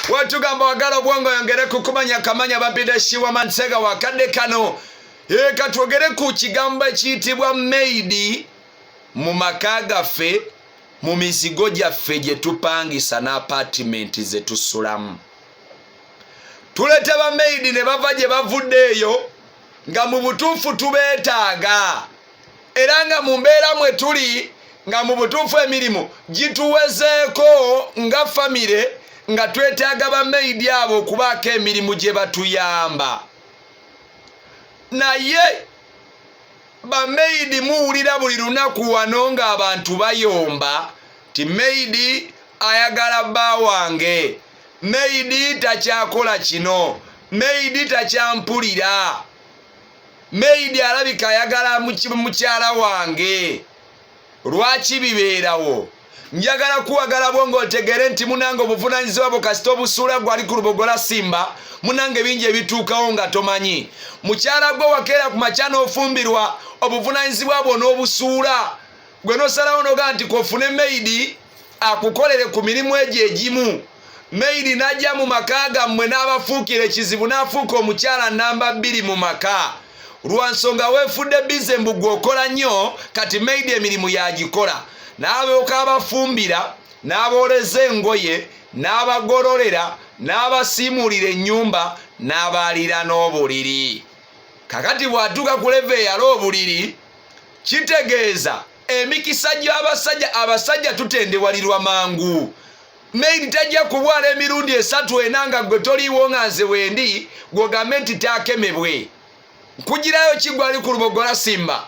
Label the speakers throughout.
Speaker 1: watugamba wagala obwongo yongere kukumanya kamanya babide shiwa mansega wakadde kano ee katwogere ku kigambo ekiyitibwa maidi mu maka gaffe mu mizigo gyaffe gye tupangisa n'apaatimenti ze tusulamu tuleeta bamaidi ne bava gye bavudde eyo nga mu butuufu tubeetaaga era nga mu mbeera mwe tuli nga mu butuufu emirimu gituwezeeko nga famire nga twetaaga bamaidi abo okubaako emirimu gye batuyamba naye bamaidi muwulira buli lunaku wano ng'abantu bayomba ti maidi ayagala bba wange maidi takyakola kino maidi takyampulira Maid alabika ayagala mukyala wange lwaki bibeerawo njagala kuwagala bwo ng'otegeere nti munange obuvunaanyizibwa bwo kasita obusuula gwali ku lubogola simba munange bingi ebituukawo nga tomanyi mukyala gwe wakeera ku makya n'ofumbirwa obuvunaanyizibwa bwo n'obusuula gwe nosalawo nogaa nti kofune maidi akukolere ku mirimu egyo egimu meidi najja mu maka gammwe n'abafuukira ekizibu n'afuuka omukyala namba bbiri mu maka lwa nsonga weefudde bize mbu gwe okola nnyo kati meidi emirimu yagikola n'abeoka abafumbira n'abooleza engoye n'abagololera n'abasiimuulira ennyumba n'abaalira n'obuliri kakati bw'atuuka ku leva eyala obuliri kitegeeza emikisa gy'abasajja abasajja tutendewalirwa mangu maili tajja kubwala emirundi esatu ena nga gwe toliiwo nga nze wendi gwogambe nti taakemebwe nkugirayo kigwali ku lubogola simba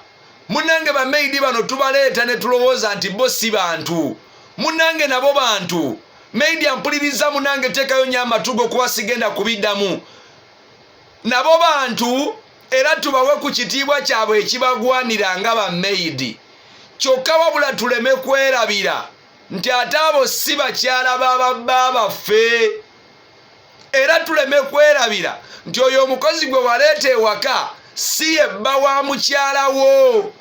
Speaker 1: munange bamaidi bano tubaleeta ne tulowooza nti bo si bantu munange nabo bantu maidi ampuliriza munange teekayo nyo amatugo kuba sigenda kubiddamu nabo bantu era tubawe ku kitiibwa kyabwe ekibagwanira nga bameyidi kyokka wabula tuleme kwerabira nti ate abo si bakyala ba babba baffe era tuleme kwerabira nti oyo omukozi gwe waleeta ewaka si yebba wa mukyala wo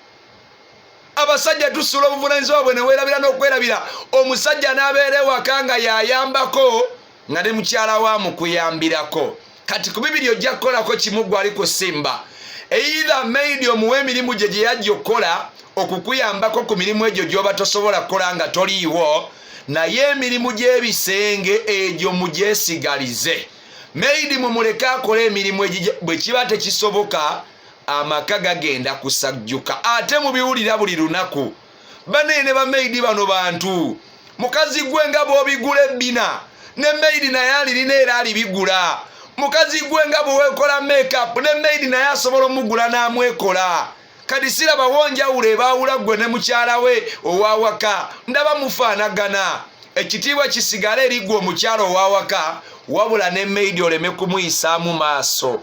Speaker 1: abasajja tusula obuvunanyizibwa bwe newerabira n'okwerabira omusajja n'abeera ewaka nga yayambako nga ne mukyala wa mukuyambirako kati ku bibiri ojja kukolako kimu gwali kusimba either maid omuwa emirimu gye gye yajja okukola okukuyambako ku mirimu egyo gyoba tosobola kukola nga toliiwo naye emirimu gy'ebisenge egyo mugyesigalize maid mumuleke akola emirimu egyo bwe kiba tekisoboka amaka gagenda kusajjuka ate mubiwulira buli lunaku banaye ne bamaidi bano bantu mukazi gwe nga bwobigula ebbina ne maidi naye alirina era alibigula mukazi gwe nga bwewekola makeup ne maidi naye asobola omugula n'amwekola kati siraba wonjawulo ebaawula ggwe ne mukyala we owawaka ndaba mufaanagana ekitiibwa kisigale eriggwe omukyala owawaka wabula ne maidi oleme kumuyisaamu maaso